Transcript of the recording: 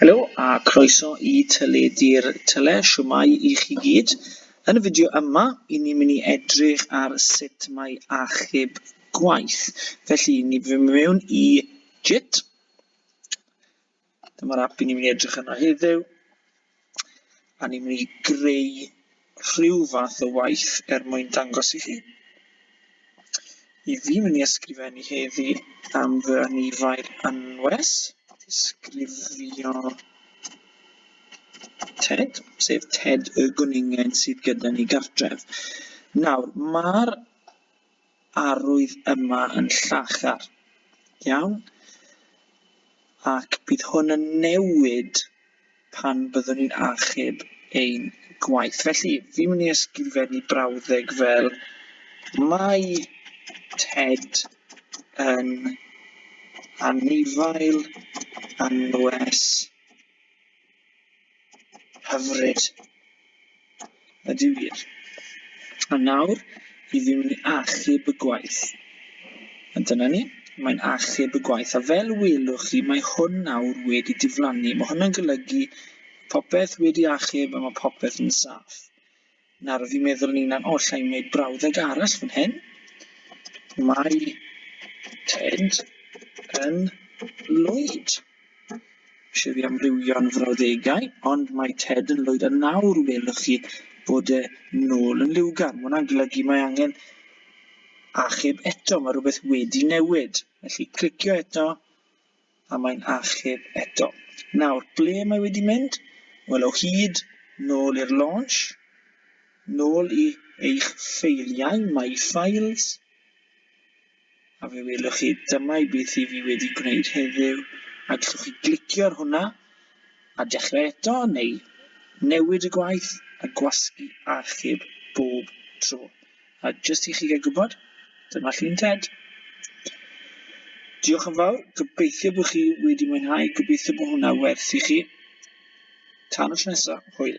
Helo a croeso i Teledu'r Tele, shwmae i chi gyd. Yn y fideo yma, i ni mynd i edrych ar sut mae achub gwaith. Felly, ni fy mewn i JIT. Dyma'r app i ni mynd i edrych yno heddiw. a ni'n mynd i greu rhyw fath o waith er mwyn dangos i chi. I fi'n mynd i ysgrifennu heddi am fy anifail anwes, disgrifio Ted, sef Ted y gwningen sydd gyda ni gartref. Nawr, mae'r arwydd yma yn llachar iawn, ac bydd hwn yn newid pan byddwn ni'n achub ein gwaith. Felly, fi'n mynd i ysgrifennu brawddeg fel mae Ted yn anifail anwes Hyfryd. Ydy wir. A nawr, i ddim yn achub y gwaith. A dyna ni, mae'n achub y gwaith. A fel welwch chi, mae hwn nawr wedi diflannu. Mae hwn yn golygu popeth wedi achub a mae popeth yn saff. Nawr fi'n meddwl ni'n an- o alla i wneud brawddeg arall fan hyn. Mae Ted yn lwyd. Eisiau fi amrywio'n frawddegau, ond mae Ted yn lwyd. A nawr welwch chi bod e nôl yn liwgar. Mae hwnna'n golygu mae angen achub eto, mae rhywbeth wedi newid. Felly clicio eto, A mae'n achub eto. Nawr, ble mae wedi mynd? Wel, o hyd nôl i'r launch, nôl i eich ffeiliau, My Files, a fe welwch chi dyma i beth i fi wedi gwneud heddiw, a gallwch chi glicio ar hwnna, a dechrau eto, neu newid y gwaith a gwasgu achub bob tro. A jyst i chi gael gwybod, dyma llun Ted. Diolch yn fawr, gobeithio bod chi wedi mwynhau, gobeithio bod hwnna werth i chi. Tan y tro nesaf, hwyl.